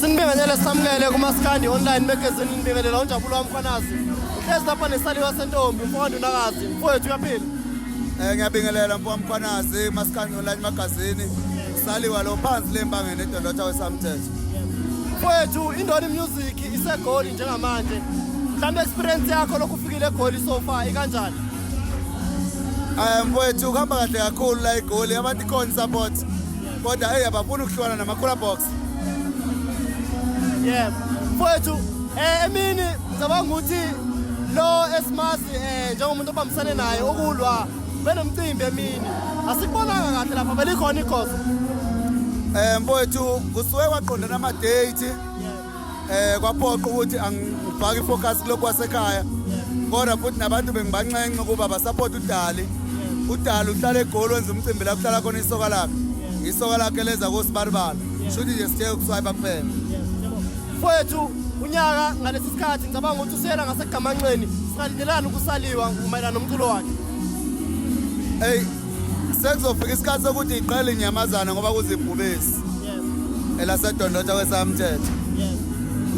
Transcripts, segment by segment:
Sinibingelele samukele kumaskandi online magazine nibingelela unjabulo wami khanazi. Hlezi lapha nesaliwa sentombi mfowethu nakazi mfowethu uyaphila. Eh ngiyabingelela mfowethu khanazi maskandi online magazine. Saliwa lo phansi lembangene edondotha wesamthetho. Mfowethu indoni music isegoli njengamanje. Mhlawumbe experience yakho lokufikile egoli so far ikanjani? Eh mfowethu kuhamba kahle kakhulu la egoli abantu ikhona support. kodwa hey abafuni ukuhlukana namakhula box yeah mfowethu eh emini ngicabanga ukuthi lo esimazi eh njengomuntu obambisane naye ukulwa benomcimbi emini asikubonanga kahle lapha belikhona ikhoso eh mfowethu kusuke kwaqondana ama date eh kwaphoqa ukuthi angifake ifocus kulokhu wasekhaya kodwa futhi nabantu bengibanxenxe ukuba basupport udali udali uhlala egoli wenza umcimbi la kuhlala khona isoka lakhe isoka lakhe leza kosibalibala shuthi nje sithe ukuswayipa kuphela mfowethu unyaka ngalesi sikhathi ngicabanga ukuthi usela ngasegamanxeni singalindelani ukusaliwa mayelana nomculo wakhe eyi sekuzofika isikhathi sokuthi iqale inyamazana ngoba kuzibhubesi elasedondotha kwesamthetho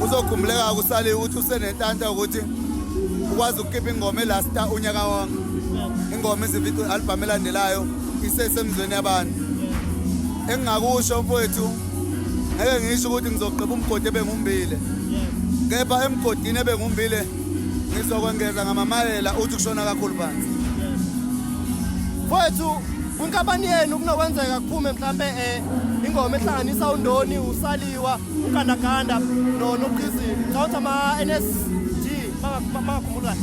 kuzokhumbuleka kusale ukuthi usenentanta ukuthi ukwazi ukukhipha ingoma elasta unyaka wonke ingoma izivido albhamu elandelayo isesemzweni yabantu engingakusho mfowethu ngeke ngisho ukuthi ngizogqiba umgodi ebengumbile kepha emgodini ebengumbile ngizokwengeza ngamamayela uthi kushona kakhulu phansi mfowethu kwinkampani yenu kunokwenzeka kuphume mhlampe um ingoma ehlanganisa undoni usaliwa ugandaganda noqhizini ngicawuthi ama-n s g bangakhumbula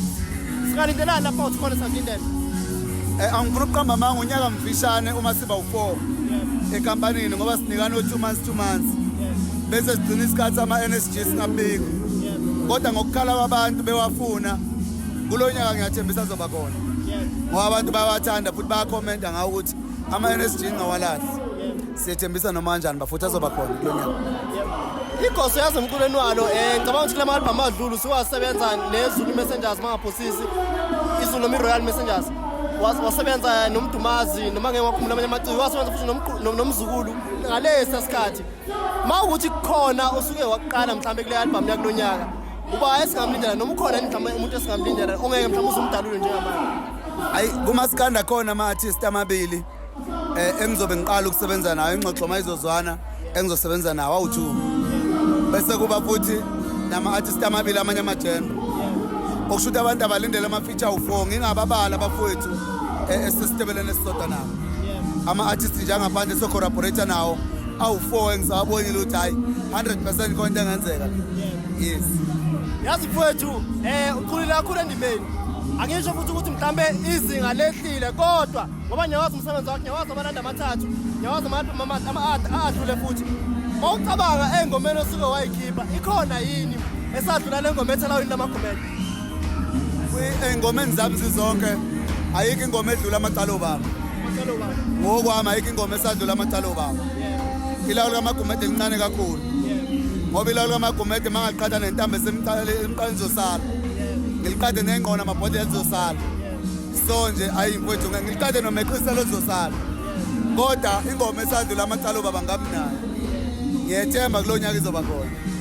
singalindelani lapha uthi khona sanginden um eh, angifuna ukuqamba amanga unyaka mfishane uma siba u-four enkampanini ngoba sinikana o-two months two months bese sigcina isikhathi ama-n s g singabiki kodwa ngokukhala kwabantu bewafuna kulo nyaka ngiyathembisa azoba khona ngoba abantu bayawathanda futhi bayakhomenta ngawo ukuthi ama-nsg ngawalazi siyethembisa noma kanjani bafuthi azoba khona kulo nyaka igoso yazi emculweni walo um ngicabanga ukuthi kula ma-albhamu adlulu siwasebenza nezulu messengers mangaphosisi izulu noma i-royal messengers wasebenza nomdumazi noma ngeke wakhumula amanye amaciko wasebenza futhi nomzukulu ngalesi sikhathi uma ukuthi kukhona osuke wakuqala mhlawumbe kule album yakulo nyaka uba esingamlindela noma ukhona yini mhlawumbe umuntu esingamlindela ongeke mhlawumbe uzumdalule njengamanje hayi kumasikanda khona ama-artist amabili um engizobe ngiqala ukusebenza nayo ingxoxo uma izozwana engizosebenza nawo awu-two bese kuba futhi nama-artist amabili amanye amajembe okusho ukuthi abantu abalindele ama-feature awu-four ngingababala abafowethu eh, esesitebeleni esisodwa nabo ama-artist njengaphandle socorroborate nawo awu-four engisawabonile ukuthi hhayi 100 percent khona into engenzeka yes yazi mfowethu um eh, ukhulile kakhulu endimeni angisho futhi ukuthi mhlawumbe izinga lehlile kodwa ngoba ngiyawazi umsebenzi wakhe ngiyawazi amalanda amathathu ngiyawazi adlule futhi mawucabanga engomeni osuke wayikhipha ikhona yini esadlula le ngoma ethelawini lamagumela ey'ngomeni zami zizonke ayikho ingoma edlula amacala obaba ngokwami ayikho ingoma esadlula amacala obaba ilawulo kamagumede lincane kakhulu ngoba ilawulo kamagumede mangaqhatha nentambo esemqaleni ngizosala ngiliqhathe nengqona amabhodlela zizosala so nje ayi mfowethu ngiliqhathe nomeqiselo zizosala kodwa ingoma esadlula amacala obaba ngami nayo ngiyethemba kulo nyaka izoba khona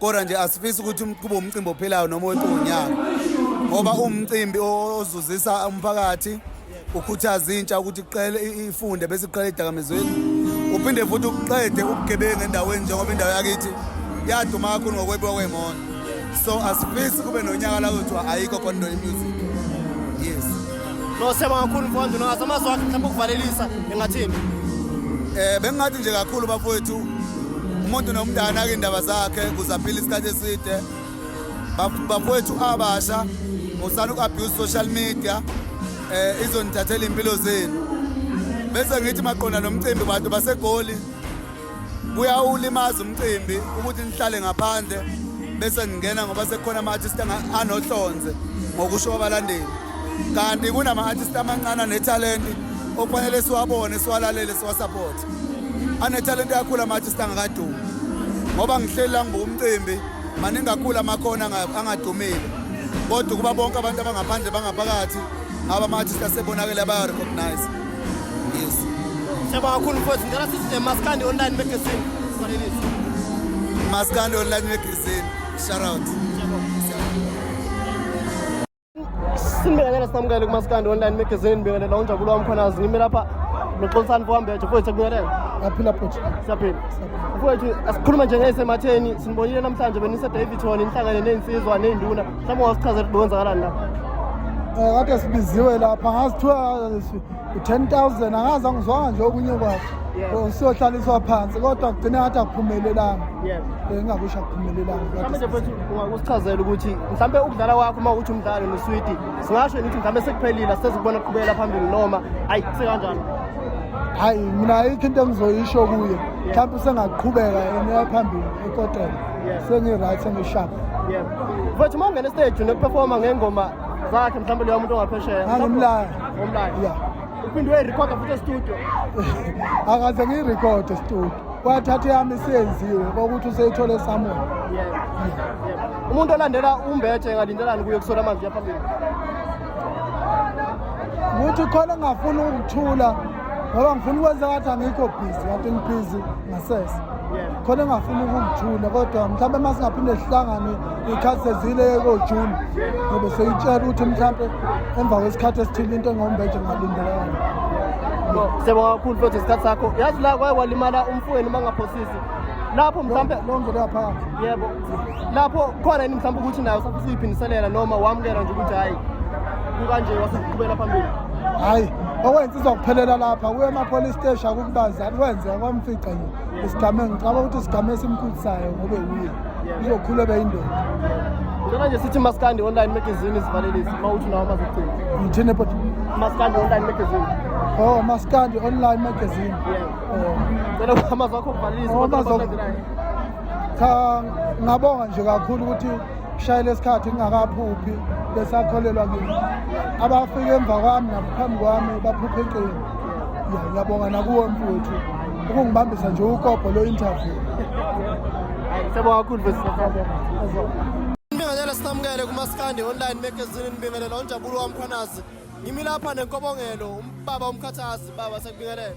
kodwa nje asifisi ukuthi kube umcimbi ophilayo noma wetonyaka ngoba umcimbi ozuzisa umphakathi ukhuthaza intsha ukuthi iqele ifunde bese iqele idakamizweni uphinde futhi uqede ubugebengu endaweni njengoba indawo yakithi yaduma kakhulu ngokwebiwa kwey'moto so asifisi kube nonyaka la kuthiwa ayikho khona into yemusic Nosema kakhulu mfowethu nazo amazwi akhe mhlawumbe ukuvalelisa engathini. Eh bengingathi nje kakhulu bafowethu umuntu nomntana ke indaba zakhe kuzaphila isikhathi eside. Bafowethu abasha usana uku-abuse social media eh izonithathela impilo zenu. Bese ngithi maqonda nomcimbi bantu basegoli kuyawulimaza umcimbi ukuthi nihlale ngaphandle bese ningena ngoba sekukhona ama-artist anohlonze ngokusho kwabalandeli kanti kunama-artist amancane anethalenti okufanele siwabone siwalalele siwasaphothe anethalenti kakhulu ama-artist angakadumi ngoba ngihleli la ngibuka umcimbi maningi kakhulu amakhona angadumile kodwa ukuba bonke abantu abangaphandle bangaphakathi ngaba ama-artist asebonakele abayarecognize Yes. Siyabonga kakhulu mfowethu. Ngicela sithi Maskandi online magazine. Sanelisa. Maskandi online magazine. Shout out. Simbekele samukele kuMaskandi online magazine. Ngibingelela unjabulo wami khona ngime lapha noxolisani fowambejo mfowethu kubingelela. Yaphila bhuti. Siyaphila. Mfowethu asikhuluma nje ngesematheni sinibonile namhlanje benise Davidson inhlangane nezinsizwa nezinduna Mhlawumbe wasichazela ukuthi kwenzakalani lapha. Eh kade sibiziwe lapha ngazi kuthiwa u-ten thousand angazi angizwanga nje okunye kwakhe Yes. siyohlaliswa phansi kodwa kugcine ngathi akuphumelelanga Yes. bengingakusho akuphumelelanga Mhlawumbe nje mfethu ungakusichazela ukuthi mhlawumbe ukudlala kwakho uma ukuthi umdlalo noswidi singasho yini ukuthi mhlawumbe sekuphelile asisezikubona kuqhubekela phambili noma ayi sekanjani hayi mina ayikho into engizoyisho kuye mhlawumbe usengaqhubeka yena phambili ekotela sengi-right sengi-sharp mfethu uma ungena estage nokuperforma ngengoma zakhe mhlawumbe leyo muntu ongaphesheya angimlaya omlaya ya uphinde uyayirekhoda futhi estudio akaze ngiyirekhode estudio wathatha yami isiyenziwe kokuthi useyithole esamoya umuntu olandela umbethe engalindelani kuye kusola amanzi yaphambili ukuthi khona ngingafuni ukuthula ngoba ngifuna ukwenza ngathi angikho busy kanti ngibhizi ngasese khona engafuni ukungithula kodwa mhlawumbe uma singaphinde sihlangane iy'khathi sezile kojuni ngobe seyitshela ukuthi mhlawumbe emva kwesikhathi esithile into engombeje ngalindelekana seba kakhulu futhi isikhathi sakho yazi la kwaye walimala umfowenu uma ngaphosisi lapho mhlawumbe lonke laphakathi yebo lapho khona yini mhlawumbe ukuthi nayo usafisa uyiphindiselela noma wamukela nje ukuthi hhayi kukanje waseqhubela phambili hhayi okwensizwa kuphelela lapha kuye emapolice steshi akukubazani kwenzeka kwamfica nje isigame ngicaba ukuthi isigame esimkhulisayo ngobe wuye izokhulu ebeyindoda Njena nje sithi Maskandi online magazine isivalelisi mawuthi nawo mazogcina. Ngithini but Maskandi online magazine. Oh Maskandi online magazine. Yeah. Oh. Cela amazwi akho kuvalelisa. Oh, cha ngabonga nje kakhulu ukuthi kushayele isikhathi ngingakaphuphi besakholelwa kimi abafike emva kwami naphambi kwami baphuphe iqini ya ngiyabonga nakuwo mfowethu ukungibambisa nje ukobho lo interview sebo kakhulu Ngibingelela sinamukele kumaskandi online magazine ngibingelela onjabulo wamkhwanazi ngimi lapha nenkobongelo umbaba umkhathazi baba sekubingelela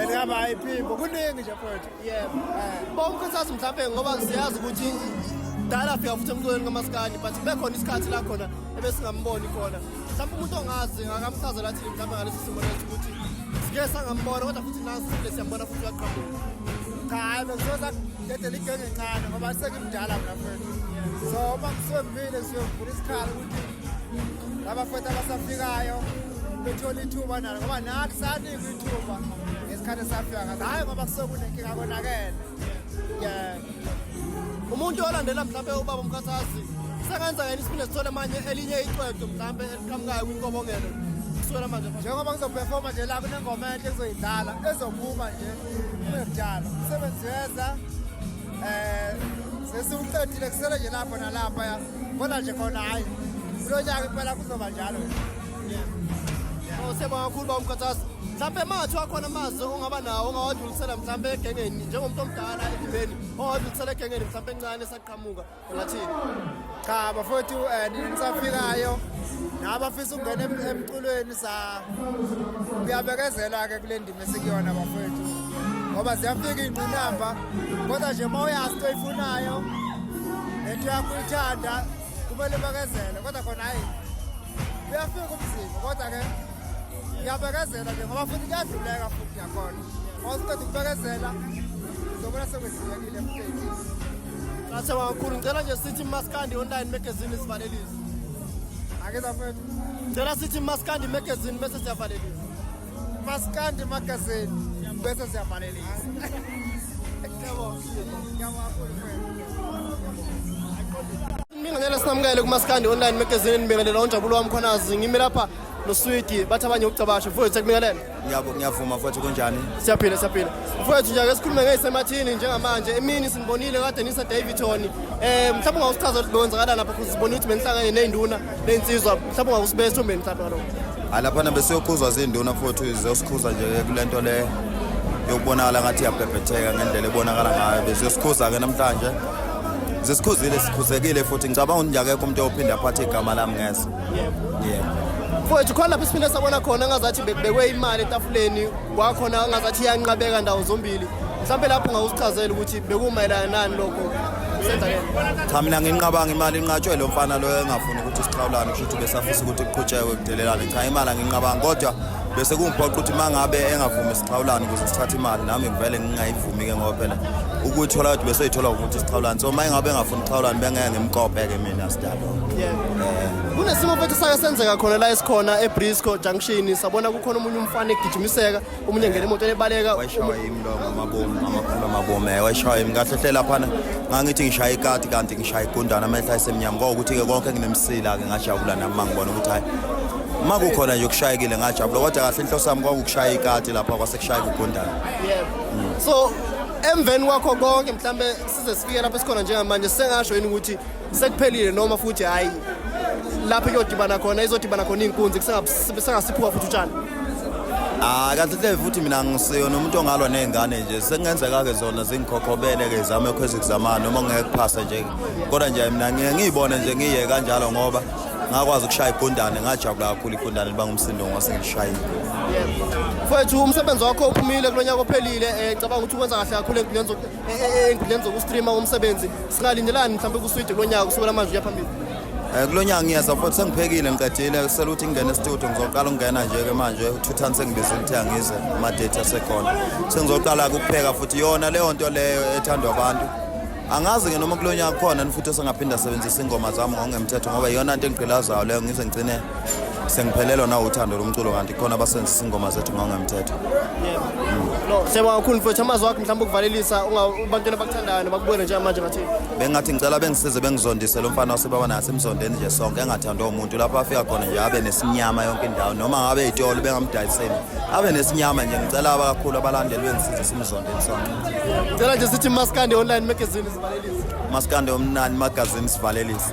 Elihamba hayi phimbo kuningi nje mfowethu. Yebo. Eh. Bonke sathi mhlawumbe ngoba siyazi ukuthi dala afika futhi emculweni kamaskandi but bekhona isikhathi la khona ebesingamboni khona. Mhlawumbe umuntu ongazi akamchazela athi mhlawumbe ngalesi simo lesi ukuthi sike sangambona kodwa futhi nazi sile siyambona futhi uyaqhamuka. Cha hayi bengizoza dedela igenge ncane ngoba sekimdala mna mfowethu. So uma ngisebile siyovula isikhala ukuthi abafowethu abasafikayo bethola ithuba nalo ngoba nathi sanikwa ithuba ngesikhathi esafika ngaso hhayi ngoba kusekunenkinga konakele yeah umuntu olandela mhlawumbe ubaba umkhathazi sengenza yena isiphinde sithole manje elinye icwedo mhlawumbe eliqhamukayo kwinkobongelo kusukela manje njengoba ngizoperforma nje la kunengoma enhle kuzoyidlala ezophuma nje kuyekudala umsebenzi weza um sesiwuqedile kusele nje lapho nalapha Kodwa nje khona hayi kulo nyaka impela kuzoba njalo. Usebonga kakhulu ba umkhathazi. Mhlampe mathi wakhona amazwi ongaba nawo ongawadlulisela mhlampe egengeni njengomuntu omdala endibeni ongawadlulisela egengeni mhlampe encane esaqhamuka ungathini? Cha bafowethu eh nisafikayo nabafisa ukungena emculweni kuyabekezelwa ke kule ndima esikuyona bafowethu ngoba ziyafika iy'ngqinamba kodwa nje uma uyazi into oyifunayo nento yakho uyithanda kumele ubekezele kodwa khona hhayi kuyafika umzima kodwa ke ngiyabekezela nje ngoba futhi kuyadluleka futhi yakhona ngoba siqeda ukubekezela uzobona sekwedlulekile mfethu Asewa kakhulu ngicela nje sithi maskandi online magazine sivalelise. Ake zafethu. Cela sithi Maskandi magazine bese siyavalelisa. Maskandi magazine bese siyavalelisa. Yabo. Yabo akhulu mfethu. Ngingenela sinamukele kuMaskandi online magazine ngibingelela onjabulo wami khonazi ngimi lapha noswidi bathi abanye ukucabasha mfowethu sekubingelela. Ngiyabo ngiyavuma mfowethu kunjani? Siyaphila siyaphila. Mfowethu nje ake sikhulume ngeysemathini njengamanje. Emini sinibonile kade nisa Davidton. Eh mhlawumbe ungawusichaza ukuthi benzakala lapha kuze sibone ukuthi benihlangane nezinduna, nezinsizwa. Mhlawumbe ungawusibeka esombeni mhlawumbe lokho. Hayi lapha nabe siyokhuzwa zinduna mfowethu zizosikhuza nje kulento le yokubonakala ngathi iyabhebhetheka ngendlela ebonakala ngayo beziyosikhuza ke namhlanje. Zisikhuzile sikhuzekile futhi ngicabanga ukuthi nje akekho umuntu ophinda aphathe igama lami ngese. mfowethu khona lapho siphinde sabona khona ngazathi bekubekwe imali etafuleni kwakhona ngazathi iyanqabeka ndawo zombili mhlawumbe lapho ngawusichazela ukuthi bekumayelana nani lokho cha mina nginqabanga imali inqatshwe lo mfana loyo engafuni ukuthi sixhawulane kusho ukuthi besafisa ukuthi kuqhutshekwe kudelelane cha imali anginqabanga kodwa bese kungiphoqa ukuthi uma ngabe engavumi sixhawulane ukuze sithathe imali nami ngivele ngingayivumi ke ngoba phela ukuyithola kodwa besoyithola ukuthi sixhawulane so uma engabe engafuni sixhawulane bengeke ngimkope-ke mina sidala kunesimo futhi sake senzeka khona la esikhona ebrisco junction sabona kukhona omunye umfana egijimiseka omunye engena emotweni ebaleka wayishaya yimi lo ngamabomu ngamakhulu amabomu eh wayishaya yimi kahle hle laphana ngangithi ngishaya ikati kanti ngishaya igundana amehla esemnyama ngokuthi-ke konke nginemsila-ke ngajabula nami mangibona ukuthi hhayi uma kukhona nje kushayekile ngajabula kodwa kahle inhloso yami kwakukushaya ikati lapha kwasekushayeka ugundana so emveni kwakho konke mhlawumbe size sifike lapho esikhona njengamanje sengasho yini ukuthi sekuphelile noma futhi hayi lapho iyodibana khona izodibana khona iy'nkunzi kusengasiphuka futhi utshani Ah kahle hle futhi mina ngisiyona umuntu ongalwa nezingane nje sekungenzeka ke zona zingikhokhobele ke zame ukhweza kuzama noma ngeke kuphasa nje kodwa nje mina ngiye ngiyibone nje ngiye kanjalo ngoba ngakwazi ukushaya igundane ngajabula kakhulu igundane liba ngumsindo ngase ngilishayile mfowethu umsebenzi wakho uphumile kulonyaka ophelile eh cabanga ukuthi ukwenza kahle kakhulu empilweni enkundleni zokustreama umsebenzi singalindelani mhlawumbe kuswidi kulo nyaka kusukela manje uya phambili um kulo nyaka ngiyeza futhi sengiphekile ngiqedile kusele ukuthi ngingene estudio ngizoqala ukungena nje-ke manje uthuthani sengibiza ukuthi angize amadethi asekhona sengizoqala-ke ukupheka futhi yona leyo nto leyo ethandwa abantu angazi-ke noma kulo nyaka kukhona ni futhi osengaphinda asebenzisa iy'ngoma zami ngokungemthetho ngoba yiyona nto engigqilazayo leyo ngize ngigcine sengiphelelwa nawo uthando lomculo kanti khona abasebenzisa ingoma zethu ngangemthetho no siyabonga kakhulu mfowethu amazwi wakho mhlawumbe ukuvalelisa abantwana abakuthandayo nabakubona njengamanje ngathi bengathi ngicela bengisize bengizondise lo mfana wasebaba naye asemzondeni nje sonke engathandwa umuntu lapho afika khona nje abe nesinyama yonke indawo noma ngabe yitolo bengamdayiseli abe nesinyama nje ngicela abakakhulu abalandeli bengisize simzondeni sonke ngicela nje sithi maskandi online magazine Maskande omnani magazini sivalelisa.